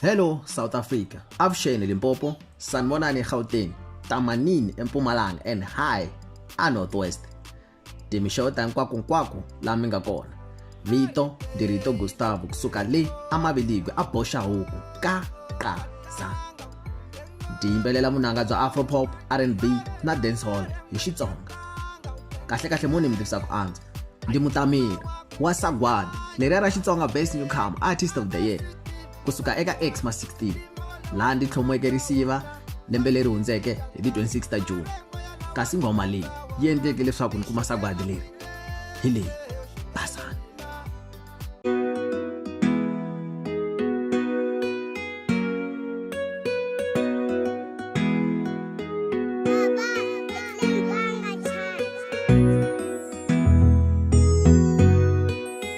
Hello South Africa. Avuxeni Limpopo, Sanibonani eGauteng, Tamanini eMpumalanga and hi a Northwest. Timixewo ta hinkwakunkwaku la mi nga kona. Vito, Ndirito Gustavo, kusuka le amaviligwe a boxa huku ka qaza. Di yimbelela vunanga bya afropop, R&B na dancehall hi Xitsonga. Kahle kahle mo ni mi tivisa ku antswa. Ndi mutameri wa sagwadi leriya ra Xitsonga Best Newcomer Artist of the Year. ku suka eka Xmas 16 laha ndzi tlhomiweke risiva lembe leri hundzeke hi ti 26 ta June. Kasi nghoma leyi yi endleke leswaku ni kuma sagwadi leri hi leyi basana.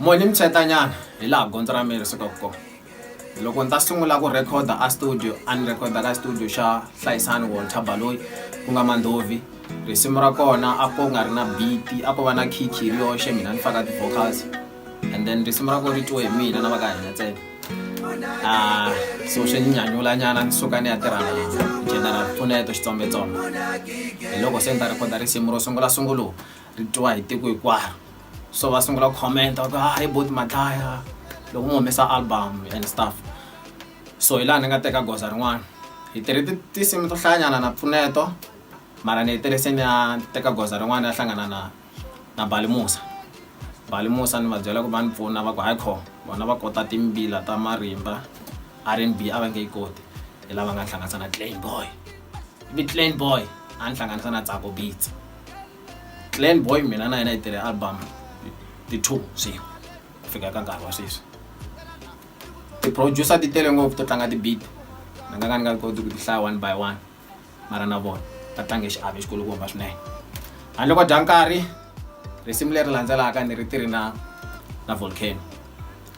moni mitshetanyana hi laha gondzo ra mina ri sukaka kona loko ndzi ta sungula ku rhekhoda a studio a ni rhekhoda ka studio xa hlayisani walter baloyi ku nga mandhovi risimu ra kona a ko nga ri na biti a ko va na khikhi ri yoxe mina ni faka ti-vocals and then risimu ra ko ri twiwe hi mina na va ka hina ntsena ah, so swi ni nyanyulanyana ni suka ni ya tirha na general pfuneto xitsombe-tsombe hi loko se ni ta rhekhoda risimu ro sungula sunguluka ri twiwa hi tiko hinkwaro so va sungula comment va ku hayi ah, boti madlaya loko mi humesa album and stuff so hi laha ni nga teka goza rin'wana hi tirhe tinsimu to hlayanyana na pfuneto mara ni hetelese ni ya teka goza rin'wana ya hlangana na na balimusa balimusa ni va byela ku va ni pfuna va ku hayi kho vona va kota timbila ta marimba r n b a va nge yi koti hi lava nga hlanganisa na clan boy vi clan boy a ni hlanganisa na tsako beats glen boy mina na yena yi tele album ti-two swin'we ku fika ka nkarhi wa sweswi ti-producer ti tele ngopfu to tlanga ti-beat ni nga ka ni nga koti ku ti hlaya one by one mara na vona va tlange xiave xikulukumba swinene handle ko dya nkarhi risimu leri landzelaka ni ri tirhi na na volcano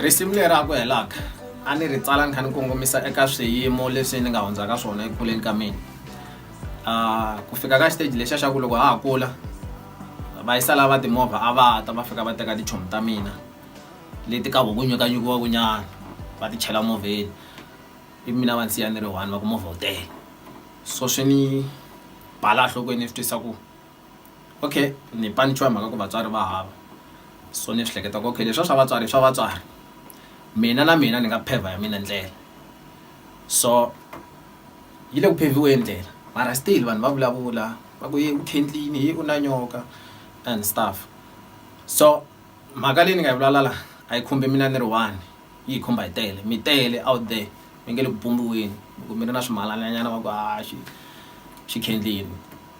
risimu leri a ku helaka a ni ri tsala ni kha ni kongomisa eka swiyimo leswi ni nga hundzaka swona eku kuleni ka mina ah, ku fika ka xiteji lexiya xa ku loko ha ha kula vayisa lava timovha a va ta va fika va teka tichomi ta mina leti ka voku nyukanyukiwaku nyana va ti chela movheni i mina va nsiya ni ri one va ku movha wu tele so swi ni bala nhlokweni ni swi twisa ku okay ni panichiwa hi mhaka ku vatswari va hava so ni swi hleketa ku okay leswa swa vatswari swa vatswari mina na mina ni nga phever ya mina ndlela so yi le ku pheviweni ndlela mara still vanhu va vulavula va ku ye u khentlini hi u na nyoka and stuff so mhaka leyi ni nga yi vulavula la a yi khumbi mina ni ri one yi hi khumba hi tele mi tele out there mi nge le ku pumbiweni loko mi ri na swimalananyana va ku ha xi xi khendleni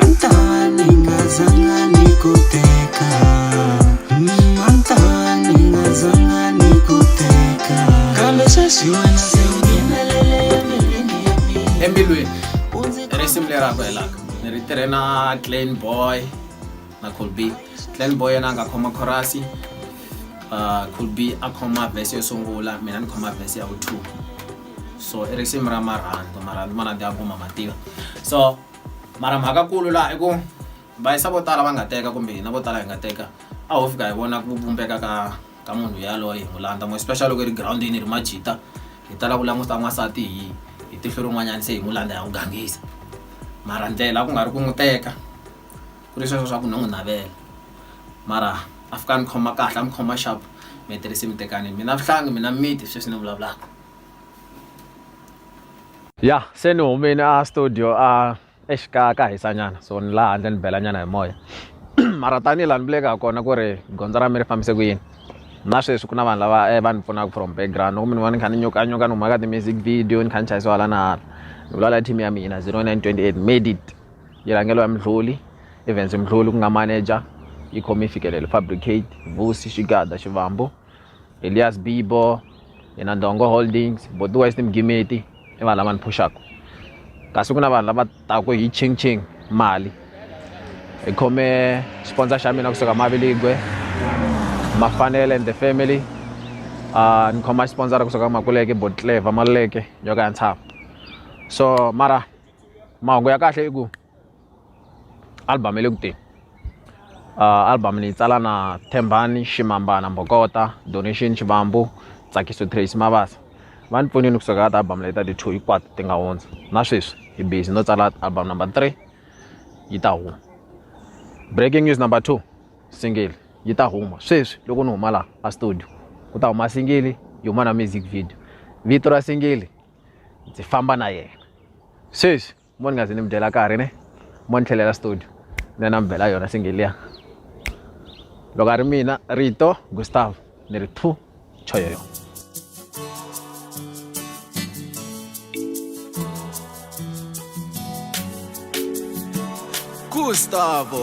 Antawa ningazanga nikuteka Mm, Antawa ningazanga nikuteka Kambe sweswi wena se unghenelele embilwini ya mina embilwini Undzi i risimu leri a ku helaka ni ri tirhe na clan boy na colby clan boy yena a nga khoma khorasi uh, colby a khoma vhesi yo sungula mina ni khoma vhesi ya vu two so i risimu ra marhandu marhandu ma rhandza ya kuma mativa so mara mhakakulu laha i ku va yisa vo tala va nga teka kumbe hina vo tala hi nga teka a ho fika hi vona ku vumbeka ka ka munhu yaloye hi n'wi landza mo especially loko hi ri girawundini hi ri majita hi tala ku languta n'wansati hi hi tihlo rin'wanyana se hi n'wi landza hi n'wi gangisa mara ndlela ku nga ri ku n'wi teka ku ri sweswo swa ku no n'wi navela mara a fika a ni khoma kahle a ni khoma sharp mi tirhisi mi tekani mina vuhlangi mina miti sweswi ni vulavulaka ya se ni humile a studio a exikaya ka hisanyana so ni laha handle ni belanyana hi moya mara tanihi laha ni vuleke ha kona ku ri gondzo ra mi ri fambise ku yini na sweswi ku na vanhu lava eh, va ni pfunaka from background loko mi ni vona ni kha ni nyokanyuka ni huma ka ti-music video ni kha ni chayisiwa hala na hala ni vulavula team ya mina 0928 made it yi rhangelo ya mdluli evens mdluli ku nga manager yi khome yi fikelele fabricate vusi xigada xivambo elias bibo yena ndongo holdings boti wise ni mugimeti i vanhu lava ni phuxaka kasi ku na vanhu lava taku hi ching ching mali hi khome sponsor xa mina kusuka maviligwe mafanele and the family uh, ni khoma sponsor kusuka makuleke botleva maluleke yo ka ya ntshava so mara mahungu ya kahle i ku album yi le ku teni album ni yi tsala na Thembani Ximambana Mbokota Donation Xivambu Tsakiso Tracy Mabasa va ni pfunile kusuka ka ti-album leti ta ti-two hinkwato ti nga hundza na sweswi hi busy no tsala album number three yi ta huma breaking news number two single yi ta huma sweswi loko ni huma laha a studio ku ta huma singili yi huma na music video vito ra singili ndzi famba na yena sweswi mo ni nga zi ni mi dyela karhi ne mo ni tlhelela studio ni ya na mi bela yona singiliya loko a ri mina rito gustav ni ri phu choyoyo gustavo